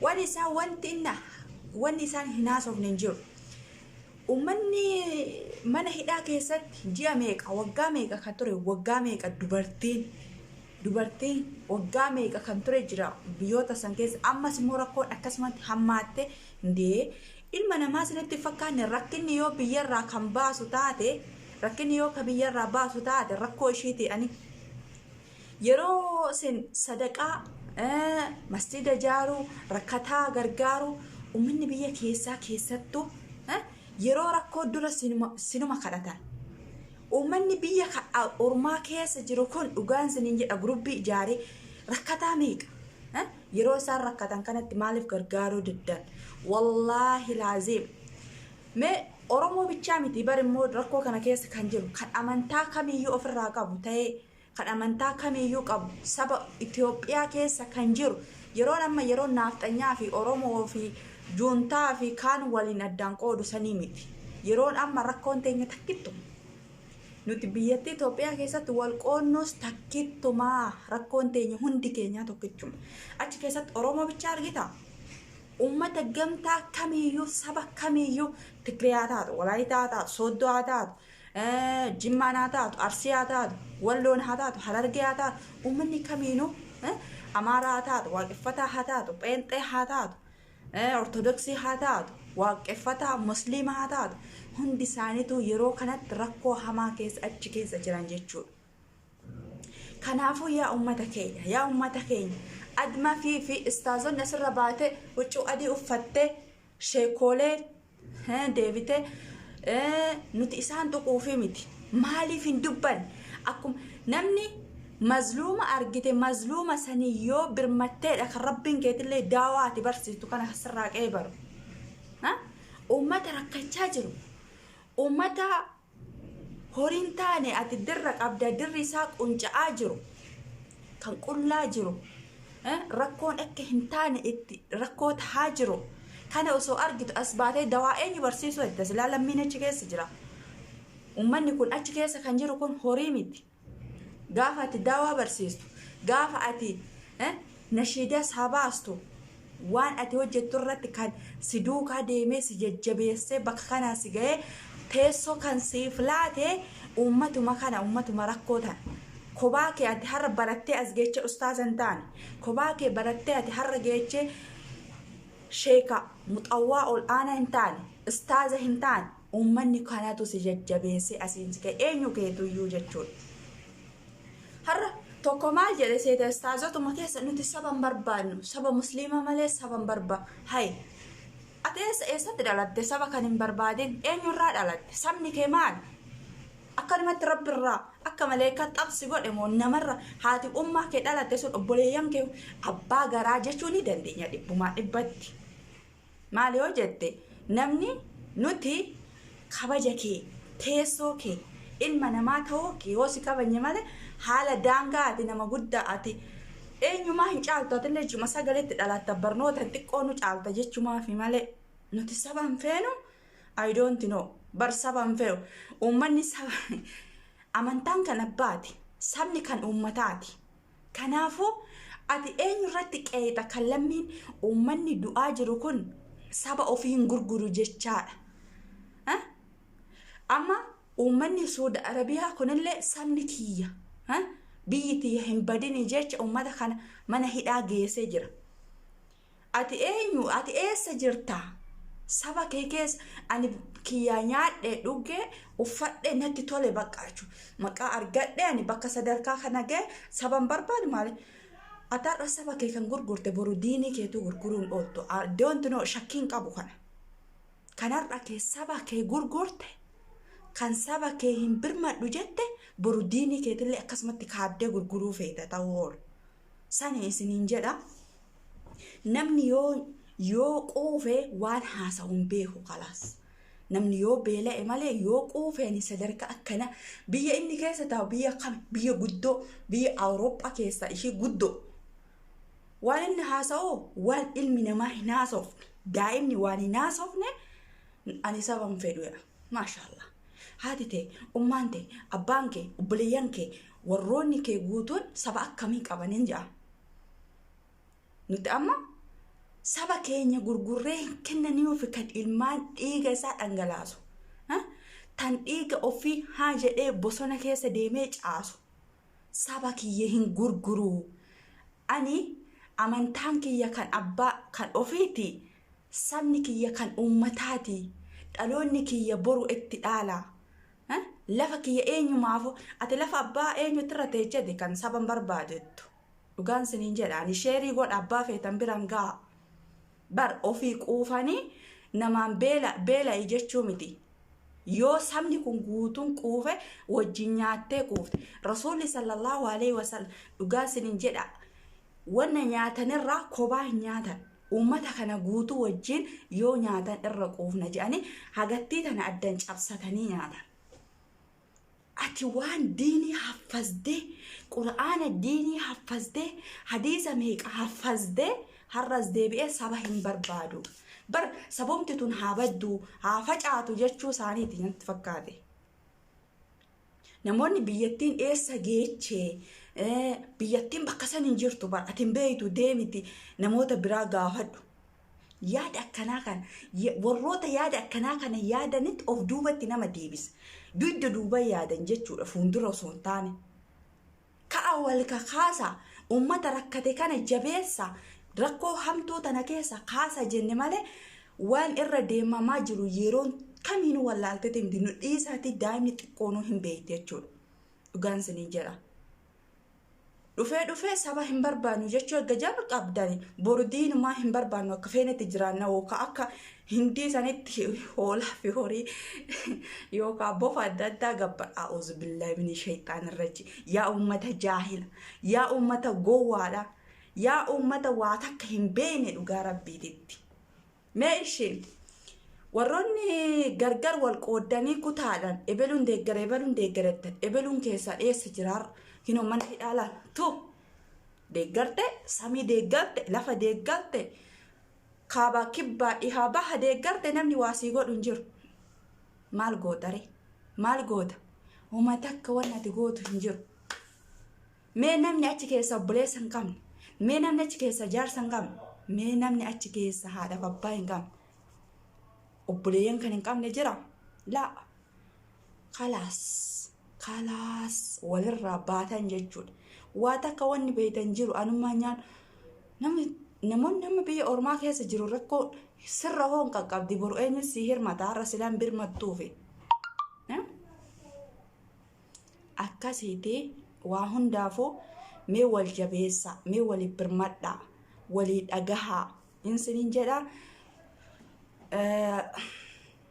Wani isaan wanti inna wanni isaan hin haasofne hin jiru. Uummanni mana hidhaa keessatti ji'a meeqa waggaa meeqa kan ture waggaa meeqa dubartiin dubartiin waggaa meeqa kan ture jira biyyoota san keessa ammas immoo rakkoon akkasumatti hammaatte dee ilma namaa sinitti fakkaanne rakkinni yoo biyyarraa kan baasu taate rakkinni yoo ka biyyarraa baasu taate rakkoo ishiiti ani Yeroo isin sadaqaa, masjiida ijaaruu, rakkataa gargaaruu, ummanni biyya keessaa keessattu yeroo rakkoo dura sinuma kadhatan. Ummanni biyya ormaa keessa jiru kun dhugaan isiniin jedha gurubbii ijaaree rakkataa meeqa? Yeroo isaan rakkatan kanatti maaliif gargaaruu diddan? Wallaahi laaziim. Mee Oromoo bichaa miti bar immoo rakkoo kana keessa kan jiru kan amantaa kamiyyuu ofirraa qabu ta'ee kan amantaa kamiiyyuu qabu saba Itoophiyaa keessa kan jiru yeroon amma yeroo naafxanyaa fi Oromoo fi juuntaa fi kaan waliin addaan qoodu sanii miti. Yeroon amma rakkoon teenya takkittuma. Nuti biyyattii Itoophiyaa keessatti wal qoonnuus takkittuma rakkoon teenya hundi keenyaa tokkichuma. Achi keessatti Oromoo bichaa argita. Uummata gamtaa kamiiyyuu saba kamiiyyuu Tigiriyaa taatu, Walaayitaa taatu, Sooddoo taatu, Jimmaan haa taatu, Arsii haa taatu, Walloon haa taatu, Harargee haa taatu, uummanni kamiinuu Amaaraa haa taatu, Waaqeffataa haa taatu, Pheenxee haa taatu, Ortodoksii haa taatu, Waaqeffataa, Musliima haa taatu, hundi isaaniitu yeroo kanatti rakkoo hamaa keessa achi keessa jiran jechuudha. Kanaafuu yaa uummata keenya, yaa uummata keenya, admafii fi istaazonni asirra baatee huccuu adii uffattee sheekoolee Hee deebite ee, nuti isaan tuquufii miti maaliif hin dubban akkuma namni mazluuma argite mazluuma sanii yoo birmatteedha kan rabbiin keetillee daawaa ati barsiiftu kana sirraa qeebaru Ha? uummata rakkachaa jiru uummata Horiin taane ati dirra qabda dirri isaa qunca'aa jiru kan qullaa jiru rakkoon akka hin taane itti rakkoo tahaa jiru kana osoo argitu as baatee dawaa eenyu barsiisuu edda silaa lammiin achi keessa jira ummanni kun achi keessa kan jiru kun horii miti gaafa ati daawaa barsiistu gaafa ati nashiidaa isaa baastu waan ati hojjettu irratti kan si duukaa deemee si jajjabeessee bakka kanaa si ga'ee teessoo kan siif laate uummatuma kana uummatuma rakkoo tana. Kobaa kee ati har'a barattee as geechee ustaaza hin taane kobaa kee barattee ati har'a geechee sheeka muxawwaa ol aanaa hin taane istaaza hin taane Uummanni kanatu si jajjabeessee asiin si ga'e eenyu keetuyyuu jechuudha. Har'a tokko maal jedhe seeta istaazotuma keessa nuti saba hin barbaannu saba musliimaa malee saba hin barbaannu hayi. Ati eessa eessatti dhalatte saba kan hin barbaadin eenyurraa dhalatte sabni kee maal? Akkanumatti rabbi irraa akka maleekaa xab si godhe moo namarra haati ummaa kee dhalatte sun obboleeyyan kee abbaa garaa jechuu ni dandeenya dhibbumaa dhibbatti. Maal yoo jette namni nuti kabaja kee, teessoo kee, ilma namaa ta'uu kee yoo si kabajne malee haala daangaa ati nama guddaa ati eenyumaa hin caaltu atillee jechuma sagaletti dhalaatta barnoota hin xiqqoonu caalta jechumaafi malee nuti saba hin feenu I don't know bar saba hin feenu uummanni saba amantaan kan abbaati sabni kan uummataati. Kanaafuu, ati eenyu irratti qeeqxa kan lammiin uummanni du'aa jiru kun saba ofii hin gurguru jechaadha. Ha? Amma uummanni Suudi Arabiyaa kunillee sabni kiyya ha? biyyi tiyya hin badini jecha uummata kana mana hidhaa geessee jira. Ati eenyu? Ati eessa jirta? Saba kee keessa ani kiyyaa nyaadhe dhugge uffadhe natti tole bakka jechuun maqaa argadhe ani bakka sadarkaa kana ga'e saban barbaadu maali? Ati har'a saba kee kan gurgurte boru diinii keetu gurguruun ooltu. Doonti noo shakkiin qabu kana. Kan har'a kee saba kee gurgurte kan saba kee hin birmadhu jette boru diinii keetillee akkasumatti kaabdee gurguruu feeta ta'uu oolu. Sani isiniin jedha namni yoo yoo quufe waan haasawu hin beeku kalaas. Namni yoo beela'e malee yoo quufeen sadarkaa akkana biyya inni keessa taa'u biyya akkami biyya guddoo biyya Awurooppaa keessa ishii guddoo. Waan inni haasa'u waan ilmi namaa hin haasofne daa'imni waan hin haasofne ani saba hin fedhu jedha. Maashaallah. Haati tee, ummaan tee, abbaan kee, obboleeyyan kee Warroonni kee guutuun saba akkamii qaba nin ja'a. Nuti amma saba keenya gurgurree hin kennaniifi kan ilmaan dhiiga isaa dhangalaasu. Ha? Tan dhiiga ofii haa jedhee bosona keessa deemee caasu. Saba kiyya hin gurguruu. Ani amantaan kiyya kan abbaa kan ofiiti. Sabni kiyya kan uummataati. Dhaloonni kiyya boru itti dhaala. Eh? Lafa kiyya eenyumaafuu ati lafa abbaa eenyutti irra teecheti kan saba hin barbaadettu. Dhugaan siniin jedha ani sheerii godha abbaa feetan biran ga'a. Bar ofii quufanii namaan beela beela'i jechuu miti. Yoo sabni kun guutuun quufe wajjin nyaattee quufte. Rasuulli sallallahu alaihi wasallam dhugaa sinin jedha Wanna nyaatan irraa kobaa hin nyaatan. Uummata kana guutuu wajjiin yoo nyaatan irra quufna jedhanii hagattii tana addan cabsatanii nyaatan. Ati waan diinii haffazde, qura'aana diinii haffazde, hadiisa meeqa haffazde har'as deebi'ee saba hin barbaadu. Bar sabumti tun haa baddu, haa facaatu jechuu isaaniiti natti fakkaate. Namoonni biyyattiin eessa geeche biyyattiin bakka san hin jirtu bar ati hin beektu deemiti namoota biraa gaafadhu. Yaada akkanaa kana warroota yaada akkanaa kana yaadanitti of duubatti nama deebisa. Dugda duuba yaadan jechuudha fuuldura osoo hin taane. Ka'aa wal kakaasa, ummata rakkate kana jabeessa, rakkoo hamtuu tana keessa kaasa jenne malee waan irra deemamaa jiru yeroon kamiinuu wallaalteeti miti nu dhiisaati daa'imni xiqqoonuu hin beekti jechuudha. Dhugaan isiniin jedha. Dhufee dhufee saba hin barbaannu jechuu erga jalqabdani boru diinumaa hin barbaannu akka feenetti jiraanna yookaan akka Hindii sanitti hoolaa fi horii yookaan bofa adda addaa gabbadha. Auzu billahi mini shaytaan irraji. Yaa uummata jaahila. Yaa uummata gowwaadha. Yaa uummata waa takka hin beekne dhugaa rabbiititti. Mee isheen warroonni gargar wal qooddanii kutaadhaan ebeluun deeggara ebeluun deeggarattan ebeluun keessaa dheessa jiraar kinoo mana hidhaalaan tu deeggarte samii deeggarte lafa deeggarte Kaabaa, Kibbaa, Dhihaa, Baha deeggarte namni waa sii godhu hin jiru. Maal gootaree? Maal goota? Homa takka wanni ati gootu hin jiru. Mee namni achi keessa obboleessa hin qabne, mee namni achi keessa jaarsa hin qabne, mee namni achi keessa haadhaaf abbaa hin qabne, obboleeyyan kan hin qabne jira? Laa. kalaas kalaas walirraa baatan jechuudha. Waa takka wanni beeytan jiru anummaa nyaan namni namoonni nama biyya ormaa keessa jiru rakkoo sirra hoon qaqqabdi boru eenyu si hirmata har'a silaan birmattuufi. Eh? Akkasiiti waa hundaafuu mee wal jabeessa mee waliif birmadha walii dhagahaa insinin jedha. Eh,